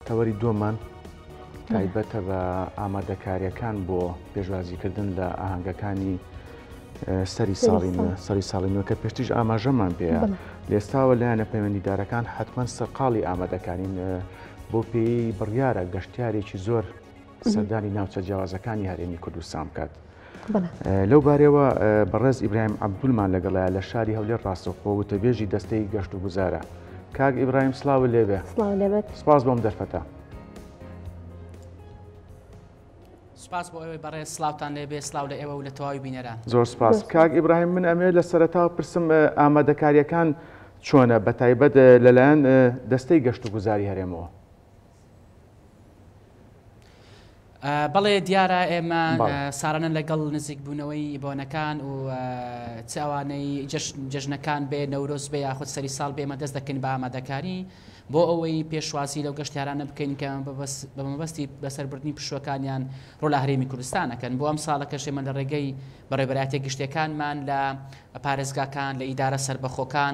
تەوەری دووەممان تایبەتە بە ئامادەکاریەکان بۆ پێشوازیکردن لە ئاهنگەکانی سەری ساڵی سەری ساڵی نوێکە پێشتیش ئاماژەمان پێ لێستاوە لایەنە پەیوەندیدارەکان حتمما سەرقاڵی ئامادەکانین بۆ پێی بڕیارە گەشتارێکی زۆر سەردانی ناوچە جیاوازەکانی هەرێمی کوردستان بکات. لەو بارەوە بەڕێز ئیبراهیم عبدولمان لەگەڵە لە شاری هەولێر ڕاستەخۆ وتەبێژی دەستەی گەشت و گوزارە کاک ئیبراهیم سلااو لێبێ سپاس بۆم دەرفەتە. سپاس بۆ ئەوەی بەڕێ سلااوان لێبێ سلااو لە ئێوە و لە تەواوی بینەران زۆر سپاس کاک ئیبراهیم من ئەمێ لە سەرتا پرسم ئامادەکاریەکان چۆنە بە تایبەت لەلایەن دەستەی گەشت و گوزاری هەرێمەوە. بەڵێ دیارە ئێمە ساڕەنە لەگەڵ نزیک بوونەوەی بۆنەکان و چاوانەی جژنەکان بێ نەورۆز بێ یاخود سەری ساڵ بێمە دەست دەکەین بە ئامادەکاری بۆ ئەوەی پێشوازی لەو گەشتیارانە بکەین کە بە مەبەستی بەسەربردننی پشوەکانیان ڕۆ لە هەرێمی کوردستانەکەن بۆ ئەم ساڵە کەشێمە لە ڕێگەی بەڕێبەراتە گشتەکانمان لە پارێزگاکان لە ئیدارە سربەخۆکان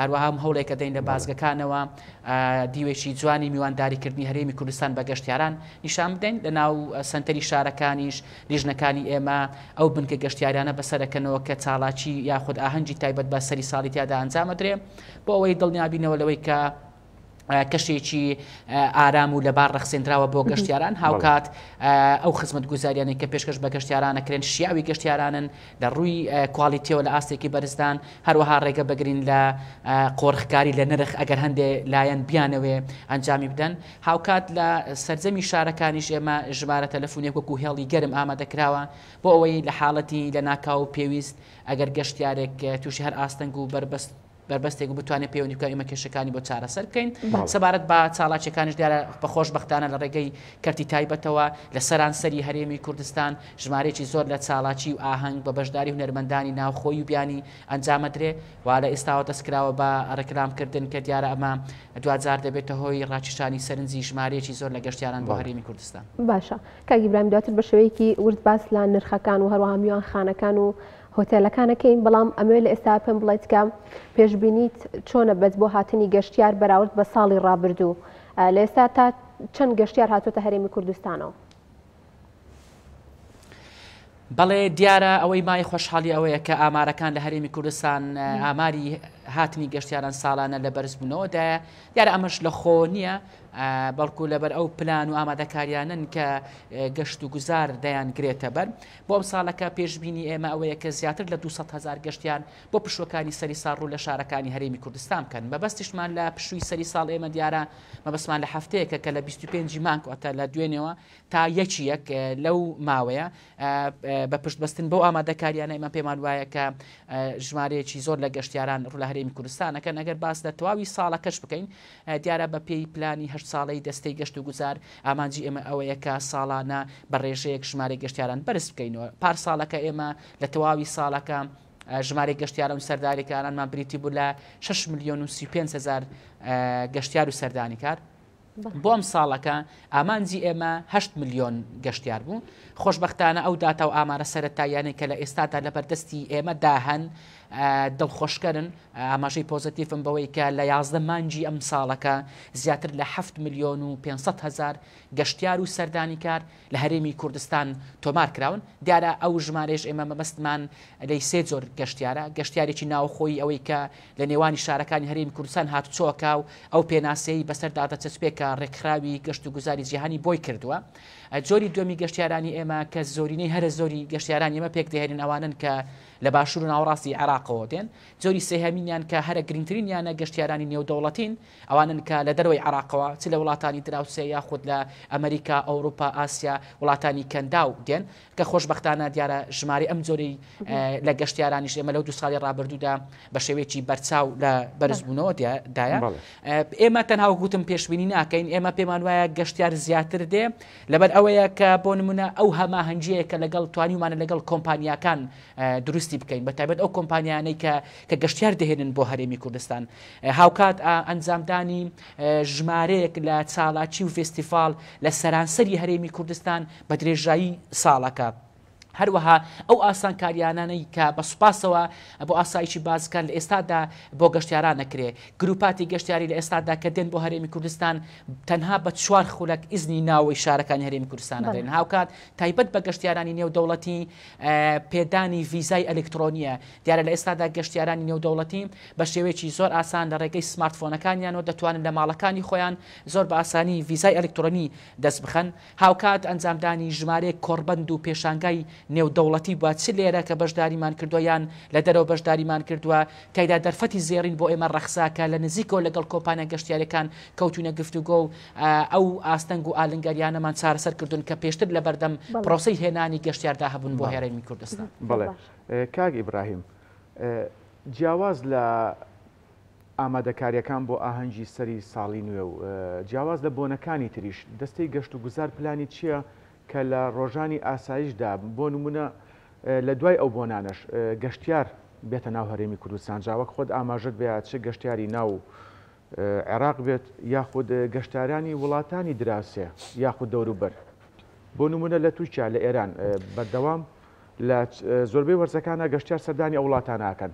هەروەها هەوڵێک ئەدەین لە بازگەکانەوە دیوێکی جوانی میوانداریکردنی هەرێمی کوردستان بە گەشتیاران نیشان بدەین لە ناو سەنتەری شارەکانیش لیژنەکانی ئێمە ئەو بنکە گەشتیاریانە بەسەرەکەنەوە کە چاڵاکی یاخود ئاهەنگی تایبەت بە سەری ساڵی تیادا ئەنجامەدرێ بۆ ئەوەی دڵنیابینەوە لەوەی کە کەشێکی ئارام و لەبار ڕەخسێنراوە بۆ گەشتیاران هاوکات ئەو خزمەت گوزاریانێک کە پێشکەش بە گەشتیارانەکرێن شیاوی گەشتیارانن لە ڕووی کوالیتیەوە لە ئاستێکی بەرزدان هەروەها ڕێگە بگرین لە قۆرخکاری لە نرخ ئەگەر هەندێ لایەن بیانەوێ ئەنجامی بدەن هاوکات لە سرجەمی شارەکانیش ئێمە ژمارە تەلەفۆنێک وەکو هێڵی گەرم ئامادەکراوە بۆ ئەوەی لە حاڵەتی لە ناکاو پێویست ئەگەر گەشتارێک تووشی هەر ئاستەنگ و بەربەست بەربەستێک و بتوانێت پەیوەندی بکات ئێمە کێشەکانی بۆ چارەسەر بکەین سەبارەت بە چاڵاکیەکانش دیارە بە خۆشببختانە لە ڕێگەی کەرتی تایبەتەوە لە سەرانسەری هەرێمی کوردستان ژمارێکی زۆر لە چاڵاکی و ئاهەنگ بە بەشداری هونەرمەندانی ناوخۆی و بیانی ئەنجامەدرێ و لە ئێستاوە دەستکراوە بە ڕێکلامکردن کە دیارە ئەمە دوجار دەبێتە هۆی ڕاکیشانی سەرنجی ژمارێکی زۆر لە گەشتیاران بۆ هەرێمی کوردستان باشە کاگیبرایم دواتر بە شوەیەکی ورد باس لە نرخەکان و هەروە هەمیوان خانەکان و هۆتێلەکانەکەین بەڵام ئەمەوێت لە ئێستاوە پێم بڵێت کە پێشبینیت چۆنە بەت بۆ هاتنی گەشتیار بەراورد بە ساڵی ڕابردوو لە ئێستا تا چەند گەشتیار هاتوتە هەرێمی کوردستانەوە؟ بەڵێ دیارە ئەوەی مای خۆشحاڵی ئەوەیە کە ئامارەکان لە هەرێمی کوردستان ئاماری هاتنی گەشتیاران ساڵانە لە بەرزبوونەوەدایە دیارە ئەمەش لە خۆ نییە بەڵکو لەبەر ئەو پلان و ئامادەکاریانن کە گەشت و گوزار دەیان گرێتە بەر بۆ ئەمساڵەکە پێشبینی ئێمە ئەوەیە کە زیاتر لە دوو سەد هەزار گەشتیان بۆ پشووەکانی سەری ساڵ ڕوو لە شارەکانی هەرێمی کوردستان بکەن، مەبەستیشمان لە پشووی سەری ساڵ ئێمە دیارە مەبەستمان لە هەفتەیەکە کە لە بیست و پێنج ی مانگ واتە لە دوێنێوە تا یەکی یەک لەو ماوەیە بە پشت بەستن بەو ئامادەکاریانە ئێمە پێمان وایە کە ژمارەیەکی زۆر لە گەشتیاران ڕوو لە هەرێمی کوردستان ئەکەن ئەگەر باس لە تەواوی ساڵەکەش بکەین دیارە بەپێی پلانی هەشت ساڵەی دەستەی گەشت و گوزار، ئامانجی ئێمە ئەوەیە کە ساڵانە بە ڕێژەیەک ژمارەی گەشتیاران بەرز بکەینەوە. پارساڵەکە ئێمە لە تەواوی ساڵەکە ژمارەی گەشتیاران و سەرداریکارانمان بریتی بوو لە شەش ملیۆن و سی و پێنج هەزار گەشتیار و سەردانیکار، بۆ ئەمساڵەکە ئامانجی ئێمە هەشت ملیۆن گەشتیار بوو. خۆشبەختانە ئەو داتا و ئامارە سەرەتاییانەی کە لە ئێستادا لەبەردەستی ئێمەدا هەن، دڵخۆشکەرن، ئاماژەی پۆزەتیفم بەوەی کە لە یازدە مانگی ئەمساڵەکە زیاتر لە حەفت ملیۆن و پێنج سەد هەزار گەشتیار و سەردانیکار لە هەرێمی کوردستان تۆمار کراون، دیارە ئەو ژمارەیەش ئێمە مەبەستمان لێی سێ جۆر گەشتیارە، گەشتیارێکی ناوخۆیی ئەوەی کە لە نێوانی شارەکانی هەرێمی کوردستان هاتوچۆکە و ئەو پێناسەیەی بەسەردا دەچەسپێ کە ڕێکخراوی گەشتوگوزاری جیهانی بۆی کردووە، جۆری دووەمی گەشتیارانی ئێمە کە زۆرینەی هەرە زۆری گەشتیارانی ئێمە پێکدەهێنن ئەوانەن کە لە باشوور و ناوەڕاستی عێراقەوە دێن، جۆری سێهەمینیان کە هەرە گرنگترین یانە گەشتیارانی نێودەوڵەتین، ئەوانەن کە لە دەرەوەی عێراقەوە، چ لە وڵاتانی دراوسێ یاخود لە ئەمریکا، ئەوروپا، ئاسیا، وڵاتانی کەنداو دێن، کە خۆشبەختانە دیارە ژمارەی ئەم جۆری لە گەشتیارانیش ئێمە لەو دوو ساڵی ڕابردوودا بە شێوەیەکی بەرچاو لە بەرزبوونەوە دایە. ئێمە تەنها وەک وتم پێشبینی ناکەین، ئێمە پێمان وایە گەشتیار زیاتر دێ، لەبەر ئەوەیە کە بۆ نموونە ئەو هەماهەنگییەیە کە لەگەڵ توانیومانە لەگەڵ کۆمپانیاکان دروستی بکەین بە تایبەت ئەو کۆمپانیانەی کە کە گەشتیار دەهێنن بۆ هەرێمی کوردستان هاوکات ئەنجامدانی ژمارەیەک لە چالاکی و فێستیڤاڵ لە سەرانسەری هەرێمی کوردستان بە درێژایی ساڵەکە. هەروەها ئەو ئاسانکاریانانەی کە بە سوپاسەوە بۆ ئاسایشی بازگەکان لە ئێستادا بۆ گەشتیاران نەکرێ. گروپاتی گەشتیاری لە ئێستادا کە دێن بۆ هەرێمی کوردستان تەنها بە چوار خولەک ئیزنی ناوەی شارەکانی هەرێمی کوردستان ئەدرێن. هاوکات تایبەت بە گەشتیارانی نێودەوڵەتی پێدانی ڤیزای ئەلیکترۆنییە. دیارە لە ئێستادا گەشتیارانی نێودەوڵەتی بە شێوەیەکی زۆر ئاسان لە ڕێگەی سمارتفۆنەکانیانەوە دەتوانن لە ماڵەکانی خۆیان زۆر بە ئاسانی ڤیزای ئەلیکترۆنی دەست بخەن. هاوکات ئەنجامدانی ژمارەیەک کۆڕبەند و پێشانگای نێودەوڵەتی بوە چ لێرە کە بەشداریمان کردوە یان لە دەرەوە بەشداریمان کردوە تیایدا دەرفەتی زێڕین بۆ ئێمە ڕەخسا کە لە نزیکەوە لەگەڵ کۆمپانیا گەشتیاریەکان کەوتوینە گفتوگۆ و ئەو ئاستەنگ و ئالنگاریانەمان چارەسەر کردوون کە پێشتر لە بەردەم پرۆسەی هێنانی گەشتیاردا هەبوون بۆ هەرێمی کوردستان. بەڵێ کاک ئیبراهیم جیاواز لە ئامادەکارییەکان بۆ ئاهەنگی سەری ساڵی نوێ و جیاواز لە بۆنەکانی تریش، دەستەی گەشتوگوزار پلانی چییە کە لە ڕۆژانی ئاسایشدا، بۆ نموونە لە دوای ئەو بۆنانەش، گەشتیار بێتە ناو هەرێمی کوردستان؟ جا وەک خۆت ئاماژەت بەیە چ گەشتیاری ناو عێراق بێت یاخود گەشتارانی وڵاتانی دراوسێ یاخود دەوروبەر، بۆ نموونە لە تورکیا، لە ئێران، بەردەوام لە زۆربەی وەرزەکانا گەشتیار سەردانی ئەو وڵاتانە ئەکەن.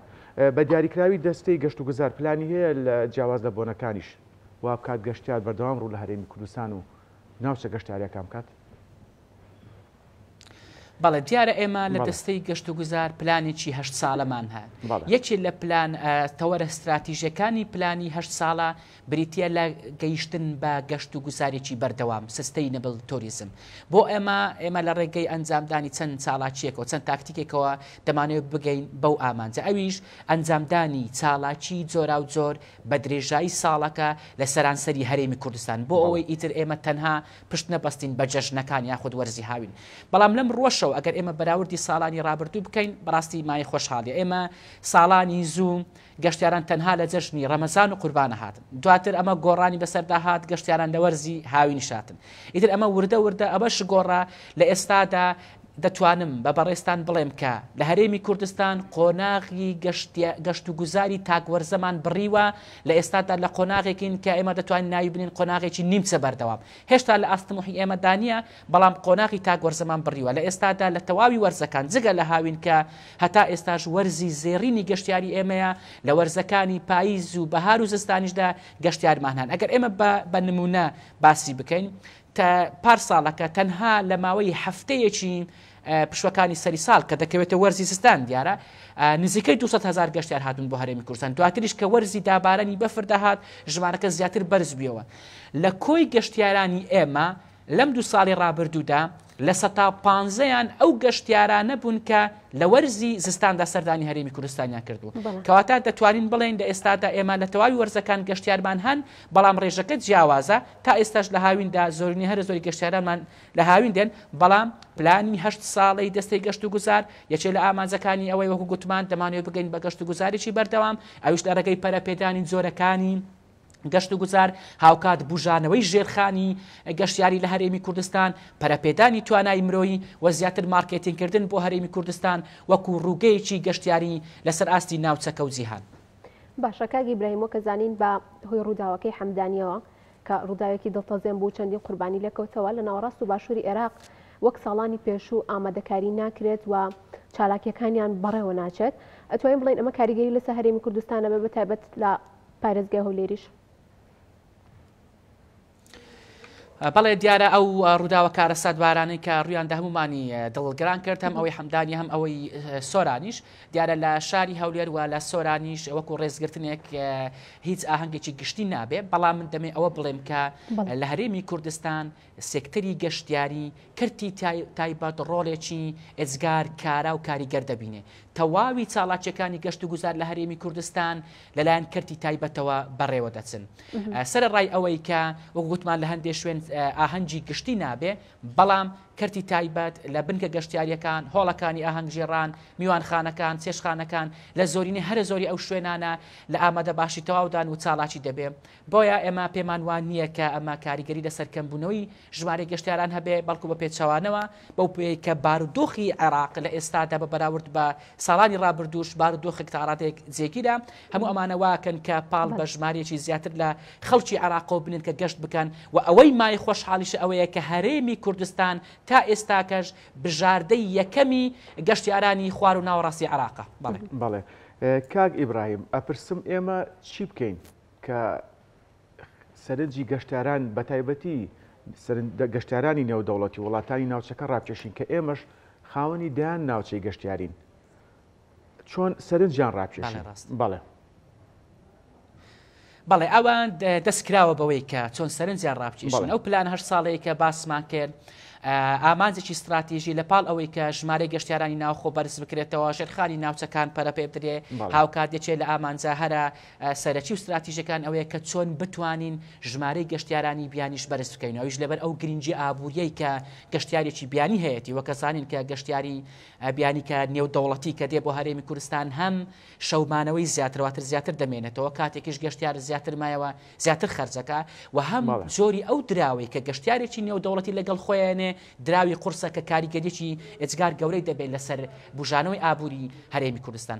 بە دیاریکراوی دەستەی گەشتوگوزار پلانی هەیە لە جیاواز لە بۆنەکانیش وابکات گەشتیار بەردەوام ڕوو لە هەرێمی کوردستان و ناوچە گەشتیاریەکان بکات؟ بەڵێ دیارە ئێمە لە دەستەی گەشت و گوزار پلانێکی هەشت ساڵەمان هەن یەکێ لە پلان تەوەرە ستراتیژەکانی پلانی هەشت ساڵە بریتییە لە گەیشتن بە گەشت و گوزارێکی بەردەوام، Sustainable Tourism. بۆ ئێمە، ئێمە لە ڕێگەی ئەنجامدانی چەند چالاکییەکەوە، چەند تاکتیکێکەوە دەمانەوێت بگەین بەو ئامانجە، ئەویش ئەنجامدانی چالاکی جۆراوجۆر بە درێژایی ساڵەکە لە سەرانسەری هەرێمی کوردستان، بۆ ئەوەی ئیتر ئێمە تەنها پشت نەبەستین بە جەژنەکان یاخود وەرزی هاوین. بەڵام لەم ڕووەشەوە ئەگەر ئێمە بەراوردی ساڵانی ڕابردوو بکەین، بەڕاستی مایەی خۆشحاڵییە. ئێمە ساڵانی زوو. گەشتیاران تەنها لە جەژنی ڕەمەزان و قوربانە هاتن دواتر ئەمە گۆڕانی بەسەردا هات گەشتیاران لە وەرزی هاوینیش هاتن ئیتر ئەمە وردە وردە ئەمەش گۆڕا لە ئێستادا دەتوانم بە بەڕێزتان بڵێم کە لە هەرێمی کوردستان قۆناغی گەشتیا گەشت و گوزاری تاک وەرزەمان بڕیوە لە ئێستادا لە قۆناغێکین کە ئێمە دەتوانین ناوی بنێین قۆناغێکی نیمچە بەردەوام هێشتا لە ئاست تموحی ئێمەدا نییە بەڵام قۆناغی تاک وەرزەمان بڕیوە، لە ئێستادا لە تەواوی وەرزەکان جگە لە هاوین کە هەتا ئێستاش وەرزی زێڕینی گەشتیاری ئێمەیە، لە وەرزەکانی پاییز و بەهار و زستانیشدا گەشتیارمان هەن، ئەگەر ئێمە بە بە نموونە باسی بکەین تە پار ساڵەکە تەنها لە ماوەی هەفتەیەکی پشووەکانی سەری ساڵ کە دەکەوێتە وەرزی زستان دیارە نزیکەی دوو سەد هەزار گەشتیار هاتوون بۆ هەرێمی کوردستان، دواتریش کە وەرزی دابارانی بەفر دەهات ژمارەکە زیاتر بەرز بوویەوە لە کۆی گەشتیارانی ئێمە، لەم دوو ساڵی ڕابردوودا لە سەتا پانزەیان ئەو گەشتیارانە بوون کە لە وەرزی زستاندا سەردانی هەرێمی کوردستانیان کردووە کەواتە دەتوانین بڵێن لە ئێستادا ئێمە لە تەواوی وەرزەکان گەشتیارمان هەن بەڵام ڕێژەکە جیاوازە تا ئێستاش لە هاویندا زۆرنی هەرە زۆری گەشتیارانمان لە هاوین دێن بەڵام پلانی هەشت ساڵی دەستەی گەشت و گوزار یەکێ لە ئامانجەکانی ئەوەی وەکو گوتمان دەمانوێت بگەین بە گەشت و گوزارێکی بەردەوام ئەوش لە ڕێگەی پەرەپێدانی جۆرەکانی گەشت و گوزار، هاوکات بوژانەوەی ژێرخانی گەشتیاری لە هەرێمی کوردستان، پەرەپێدانی توانای مرۆیی و زیاتر مارکێتینگکردن بۆ هەرێمی کوردستان وەکو ڕووگەیەکی گەشتیاری لەسەر ئاستی ناوچەکە و جیهان. باشە کاک ئیبراهیم وەکە زانین بە هۆی ڕووداوەکەی حەمدانیەوە کە ڕووداوێکی دڵتەزێن بوو چەندین قوربانی لێکەوتەوە لە ناوەڕاست و باشووری ئێراق وەک ساڵانی پێشوو ئامادەکاری ناکرێت و چالاکیەکانیان بەڕێوە ناچێت ئەتوانین بڵین ئەمە کاریگەری لەسە هەرێمی کوردستانە بە بەتایبەت لە پارێزگای هەولێریش. بەڵێ دیارە ئەو ڕووداوە کارەساتبارانەی کە ڕویاندا هەمومانی دڵگران کرد هەم ئەوەی حەمدانی هەم ئەوەی سۆرانیش دیارە لە شاری هەولێر وە لە سۆرانیش وەکو ڕێزگرتنێک هیچ ئاهەنگێکی گشتی نابێ بەڵام من دەمێ ئەوە بڵێم کە لە هەرێمی کوردستان سێکتەری گەشتیاری کەرتی تایبەت ڕۆڵێکی ئێجگار کارا و کاریگەر دەبینێ. تەواوی چاڵاکییەکانی گەشت و گوزار لە هەرێمی کوردستان لەلایەن کەرتی تایبەتەوە بەڕێوە دەچن. سەرەڕای ئەوەی کە وەکو گوتمان لە هەندێ شوێن ئاهەنگی گشتی نابێ، بەڵام کەرتی تایبەت لە بنکە گەشتیارییەکان، هۆڵەکانی ئاهەنگگێڕان، میوانخانەکان، چێشتخانەکان، لە زۆرینەی هەرە زۆری ئەو شوێنانە لە ئامادەباشی تەواودان و چاڵاکی دەبێ. بۆیە ئێمە پێمان وا نییە کە ئەمە کاریگەری لەسەر کەمبوونەوەی ژمارەی گەشتیاران هەبێ، بەڵکو بە پێچەوانەوە، بەو پێیەی کە بارودۆخی عێراق لە ئێستادا بە بەراورد بە ساڵانی ڕابردووش بارودۆخێک تا ڕادەیەک جێگیرە، هەموو ئەمانە وا ئەکەن کە پاڵ بە ژمارەیەکی زیاتر لە خەڵکی عێراقەوە بنێن کە گەشت بکەن و ئەوەی مایەی خۆشحاڵیشە ئەوەیە کە هەرێمی کوردستان تا ئێستاکەش بژاردەی یەکەمی گەشتیارانی خوار و ناوەڕاستی عێراقە. بەڵێ. بەڵێ. کاک ئیبراهیم، ئەپرسم ئێمە چی بکەین؟ کە سەرنجی گەشتاران بەتایبەتی گەشتارانی نێودەوڵەتی وڵاتانی ناوچەکە ڕاکێشین کە ئێمەش خاوەنی دەیان ناوچەی گەشتیارین چۆن سەرنجیان ڕاکێشی ڕاست بەڵێ بەڵێ ئەوان دەستکراوە بەوەی کە چۆن سەرنجیان ڕاپچیشن ئەو پلان هەر ساڵەیە کە باسمان کرد ئامانجێکی استراتیژی لە پاڵ ئەوەی کە ژمارە گەشتیارانی ناوخۆ بەرز بکرێتەوە ژێرخانی ناوچەکان پەرەپێ بدرێ هاوکات یەکێ لە ئامانجە هەرە سەرەکی و ستراتیژەکان ئەوەیە کە چۆن بتوانین ژمارەی گەشتیارانی بیانیش بەرز بکەین و ئەویش لەبەر ئەو گرنگی ئابووریەی کە گەشتیارێکی بیانی هەیەتی وە کە زانین کە گەشتیاری بیانی کە نێودەوڵەتی کە دێ بۆ هەرێمی کورستان هەم شەو مانەوەی زیاترە واتر زیاتر دەمێنێتەوە کاتێکیش گەشتیار زیاتر مایەوە زیاتر خەرجەکە وە هەم جۆری ئەو دراوەی کە گەشتیارێکی نێودەوڵەتی لەگەڵ خۆی ئەیەنێ دراوی قورسە کە کاریگەریەکی ئێجگار گەورەی دەبێت لەسەر بوژانەوەی ئابووری هەرێمی کوردستان.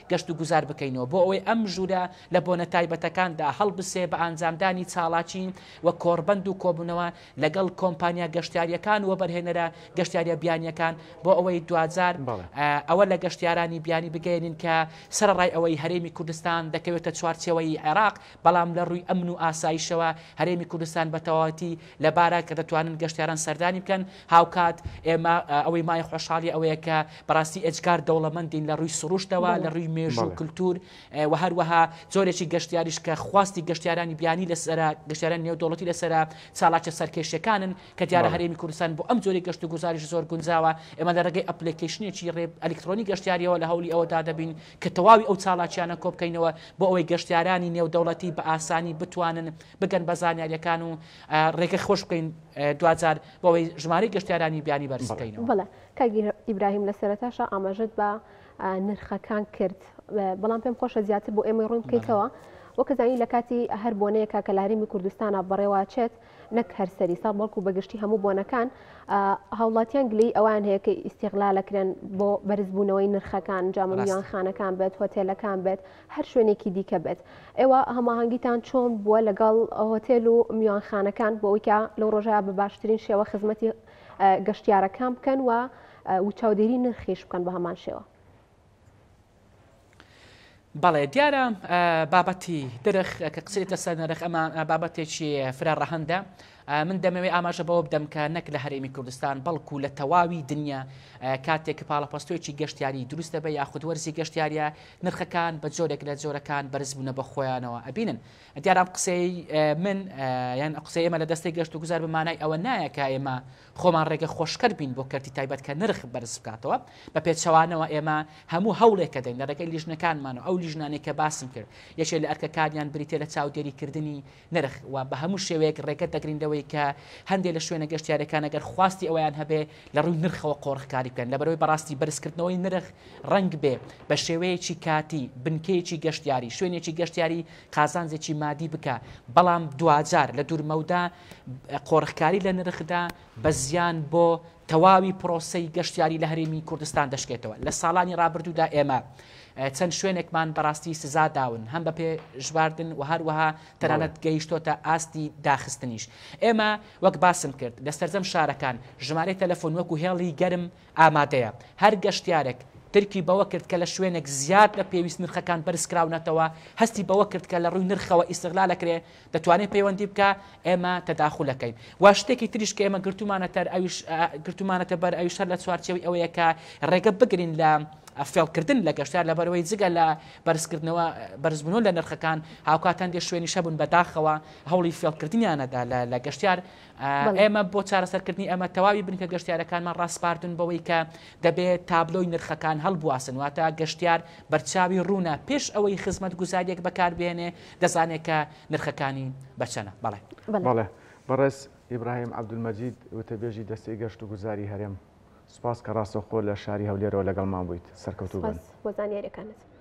گەشتوگوزار بکەینەوە بۆ ئەوەی ئەم ژوورە لە بۆنە تایبەتەکاندا هەڵبسێ بە ئانجامدانی چاڵاکی و کۆڕبەند و کۆبوونەوە لەگەڵ کۆمپانیا گەشتیارییەکان و وەبەرهێنەرە گەشتیارییە بیانییەکان بۆ ئەوەی دواجار ئەوە لە گەشتیارانی بیانی بگەیەنین کە سەرەڕای ئەوەی هەرێمی کوردستان دەکەوێتە چوارچێوەی عێراق بەڵام لە ڕووی ئەمن و ئاسایشەوە هەرێمی کوردستان بە تەواوەتی لەبارە کە دەتوانن گەشتیاران سەردانی بکەن، هاوکات ئێمە ئەوەی مایە خۆشحاڵی ئەوەیە کە بەڕاستی ئێجگار دەوڵەمەندین لە ڕووی سروشتەوە، لە ڕووی مێژوو، کلتور و هەروەها جۆرێکی گەشتیاریش کە خواستی گەشتیارانی بیانی لەسەرە، گەشتیارانی نێودەوڵەتی لەسەرە، چالاکیە سەرکێشیەکانن کە دیارە هەرێمی کوردستان بۆ ئەم جۆری گەشت و گوزاریش زۆر گونجاوە، ئێمە لە ڕێگەی ئەپلێکەیشنێکی ڕێ ئەلیکترۆنی گەشتیاریەوە لە هەوڵی ئەوەدا دەبین، کە تەواوی ئەو چالاکیانە کۆبکەینەوە بۆ ئەوەی گەشتیارانی نێودەوڵەتی بە ئاسانی بتوانن بگەن بە زانیاریەکان و رێگە خۆش بکەین دواجار بۆ ئەوەی ژمارەی گەشتیارانی بیانی بەرز بکەینەوە. بەڵێ کاک ئیبراهیم لە سەرەتاشا ئاماژەت بە نرخەکان کرد بەڵام پێم خۆشە زیاتر بۆ ئێمەی ڕوون بکەیتەوە وەکەزانی لە کاتی هەر بۆنەیەکە کە لە هەرێمی کوردستانە بەڕێواچێت نەک هەر سەری ساڵ بەڵکو بەگشتی هەموو بۆنەکان هاوڵاتیان گلەی ئەوان هەیە کە ئیسیغلالەکرێن بۆ بەرزبوونەوەی نرخەکان جامیان خانەکان بێت هۆتێلەکان بێت هەر شوێنێکی دیکە بێت ئێوە هەماهنگگیتان چۆن بووە لەگەڵ هۆتێل و میوانخانەکان بۆ ئەوکە لەو ڕۆژە بە باشترین شێوە خزمەتی گەشتیارەکان بکەن و و چاودێری نرخیش بکەن بە هەمان شێوە بەڵێ دیارە بابەتی درخ کە قسەێتە سەر نرخ ئەمە بابەتێکی فرە ڕەهندە من دەمەوێت ئاماژە بەوە بدەم کە نەک لە هەرێمی کوردستان بەڵکو لە تەواوی دنیا کاتێک کە پاڵەپەستۆیەکی گەشتیاری دروستە بە یاخود وەرزی گەشتیاریە نرخەکان بە جۆرێک لە جۆرەکان بەرزبوونە بە خۆیانەوە ئەبینن دیارام قسەی من یان قسەی ئێمە لە دەستی گەشت و گوزار بمانای ئەوە نایە کە ئێمە خۆمان ڕێگە خۆشکەر بین بۆ کەرتی تایبەت کە نرخ بەرز بکاتەوە، بە پێچەوانەوە ئێمە هەموو هەوڵێک ئەدەین لە ڕێگەی لیژنەکانمانەوە، ئەو لیژنانەی کە باسم کرد یەکێ لە ئەرکەکانیان بریتیە لە چاودێری کردنی نرخ و بە هەموو شێوەیەک ڕێگە دەگرین لەوەی کە هەندێ لە شوێنە گەشتیارەکان ئەگەر خواستی ئەوەیان هەبێ لە ڕووی نرخەوە قۆرخکاری بکەن لەبەرئەوەی بەڕاستی بەرز کردنەوەی نرخ ڕەنگ بێ بە شێوەیەکی کاتی بنکەیەکی گەشتیاری، شوێنێکی گەشتیاری قازانجێکی مادی بکا بەڵام دواجار لە دوورمەودا قۆرخکاری لە نرخدا بە زیان بۆ تەواوی پرۆسەی گەشتیاری لە هەرێمی کوردستان دەشکێتەوە لە ساڵانی ڕابردوودا ئێمە چەند شوێنێکمان بەڕاستی سزا داون هەم بە پێ ژواردن و هەروەها تەنانەت گەیشتۆتە ئاستی داخستنیش ئێمە وەک باسم کرد لە سەرجەم شارەکان ژمارەی تەلەفۆن وەکو هێڵی گەرم ئامادەیە. هەر گەشتیارێک درکی بەوە کرد کە لە شوێنێک زیاد لە پێویست نرخەکان بەرزکراونەتەوە، هەستی بەوە کرد کە لە ڕووی نرخەوە ئیستغلالەکرێ، دەتوانێ پەیوەندی بکا، ئێمە تەداخولەکەین. و شتێکی تریش کە ئێمە گرتوومانەتەر ئەویش گرتوومانەتە بەر ئەویش هەر لە چوارچێوەی ئەوەیە کە ڕێگە بگرین لە فێڵکردن لە گەشتیار لەبەرئەوەی جگە لە بەرزکردنەوە بەرزبوونەوە لە نرخەکان هاوکات هەندێ شوێنیش هەبوون بەداخەوە هەوڵی فێڵکردنیانەدا لە گەشتیار ئێمە بۆ چارەسەرکردنی ئەمە تەواوی بنکە گەشتیارەکانمان ڕاسپاردون بەوەی کە دەبێت تابلۆی نرخەکان هەڵبواسن واتە گەشتیار بەرچاوی ڕوونە پێش ئەوەی خزمەت گوزاریەک بەکار بێنێ دەزانێت کە نرخەکانی بەچەنە بەڵێ بەڵێ بەڕێز ئیبراهیم عەبدولمەجید وتەبێژی دەستەی گەشت و گوزاری هەرێم سپاس کە ڕاستەوخۆ لە شاری هەولێرەوە لەگەڵمان بوویت سەرکەوتوو بن بۆ زانیارەکانت.